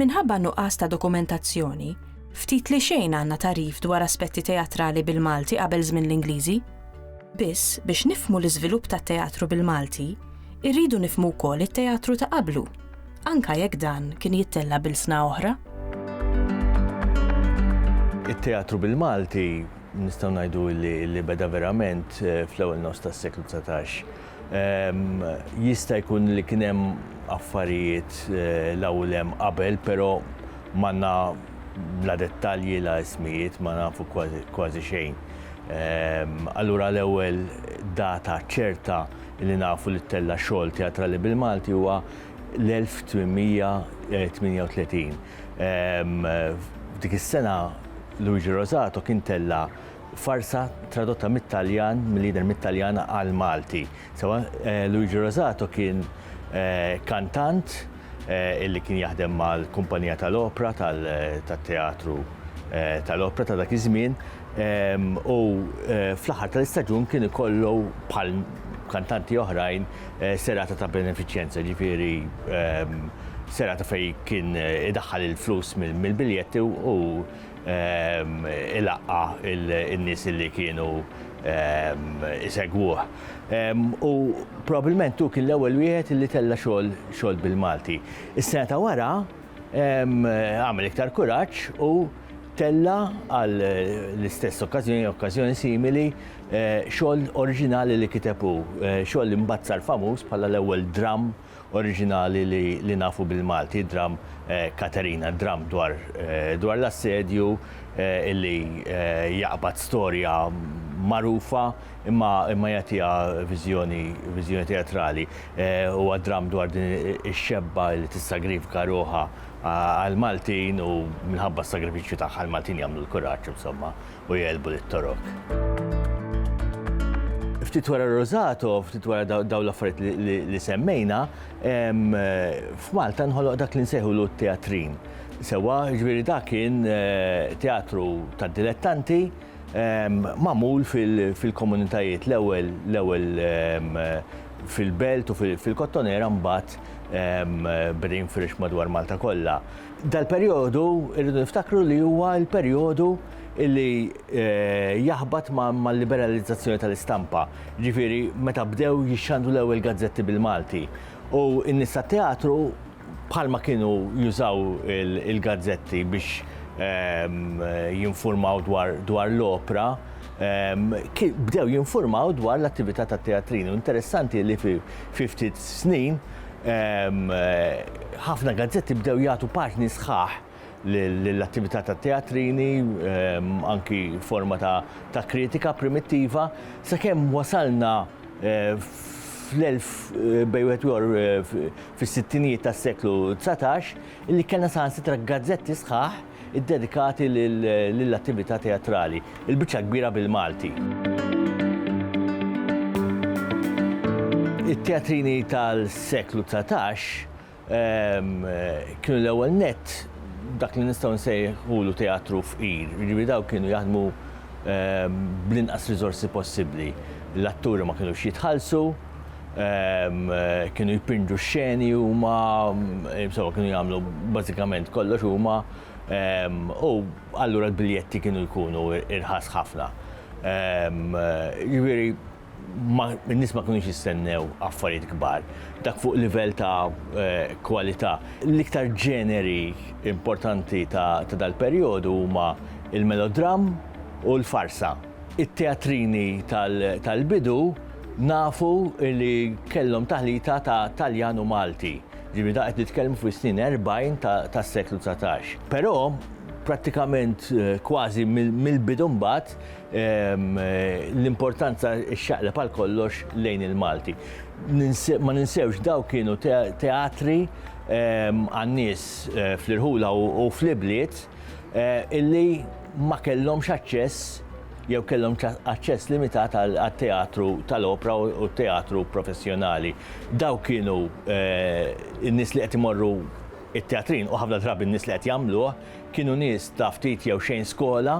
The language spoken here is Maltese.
Minħabba nuqqas ta' dokumentazzjoni, ftit li xejn għandna tarif dwar aspetti teatrali bil-Malti qabel żmien l-Ingliżi. Biss biex nifmu l-iżvilupp tat-teatru bil-Malti, irridu nifmu wkoll it-teatru ta' qablu. anke jekk dan kien jittella' b'ilsna oħra. It-teatru bil-Malti nistgħu ngħidu li beda verament fl-ewwel nofs tas-seklu dsatax. Jista' jkun li kien hemm affarijiet l hawn u l hemm qabel, però m'għandna la dettalji la ismijiet, ma nafu kważi xejn. Allura l-ewwel data ċerta li nafu li ttella' xogħol teatrali bil-Malti huwa l-1838. F'dik is-sena Luigi Rosato kien tella' farsa tradotta mit-Taljan, mill-lider mit-Taljan għall-Malti. Sewwa Luigi Rosato kien kantant illi kien jaħdem mal-kumpanija tal-opra tat-teatru tal-opra ta' dak iż-żmien u fl-aħħar tal-istaġun kien ikollu bħal kantanti oħrajn serata ta' benefiċjenza, ġifieri serata fejn kien idaħħal il-flus mill-biljetti u ilaqqa in-nies li kienu isegwuh. U probabbilment hu kien l-ewwel wieħed li tella' xogħol bil-Malti. Is-sena ta' wara għamel iktar kuraġġ u tella' għall-istess okkażjoni, okkażjoni simili, Xogħol oriġinali li kiteb hu, xogħol li mbagħad sar famuż bħala l-ewwel dramm oriġinali li nafu bil-Malti, id-dramm Katerina, dramm dwar l-assedju li jaqbad storja magħrufa imma jagħtiha viżjoni teatrali. Huwa dramm dwar din ix-xebba li tissagrifika ruħha għall-Maltin u minħabba s-sagrifiċċju tagħha l-Maltin jagħmlu l-kuraġġ insomma. u jegħlbu lit-Torok. Ftit wara Rosato, ftit wara daw l-affarijiet li semmejna, f'Malta nħoloq dak li nsejħulu t-teatrin. Sewa, ġviri dak kien eh, teatru ta' dilettanti, mamul fil-komunitajiet l-ewwel l-ewwel fil-belt u fil-kottonera mbagħad bdejn firix madwar Malta kollha. Dal-perjodu irridu niftakru li huwa l-perjodu li eh, jaħbat mal-liberalizzazzjoni tal-istampa, ġifieri meta bdew jixxandru l-ewwel gazzetti bil-Malti. U n-nies tat-teatru bħalma kienu jużaw il-gazzetti biex ehm, jinformaw dwar l-opra, ehm, bdew jinformaw dwar l-attività tat-teatrin. U interessanti li fi ftit snin Ħafna gazzetti bdew jagħtu paġni sħaħ lill-attività tat-teatrini, anki forma ta' kritika primittiva, sakemm wasalna fis-sittinijiet tas-seklu dsatax li kellna saħansitra gazzetti sħaħ iddedikati lill-attività teatrali, il-biċċa l-kbira bil-Malti. It-teatrini tal-seklu dsatax kienu l-ewwel nett dak li nistgħu nsejħulu teatru fqir, jiġifieri dawk kienu jaħdmu bl-inqas riżorsi possibbli. L-atturi ma kinux jitħallsu, Kienu jpinġu xeni huma, insomma kienu jagħmlu bażikament kollox huma u allura l-biljetti kienu jkunu irħas ħafna. Jiġifieri n-nies ma kinux jistennew affarijiet kbar. Dak fuq livell ta' kwalità. L-iktar ġeneri importanti ta' dal-perjodu huma l-melodram u l-farsa. It-teatrini tal-bidu nafu li kellhom taħlita ta' Taljan u Malti, ġifieri dan qed nitkellmu fis-snin 40 tas-seklu dsatax. Però prattikament kważi mill-bidu mbagħad l-importanza xxaqleb għal kollox lejn il-Malti. Ma ninsewx dawk kienu teatri għan-nies fl-irħula u fl-ibliet, eh, illi ma kellhomx aċċess jew kellhom aċċess limitat għat-teatru tal-opra u teatru professjonali. Daw kienu eh, n-nies li qed imorru it-teatrin u ħafna drabi n-nies li qed jagħmluh kienu nies ta' ftit jew xejn skola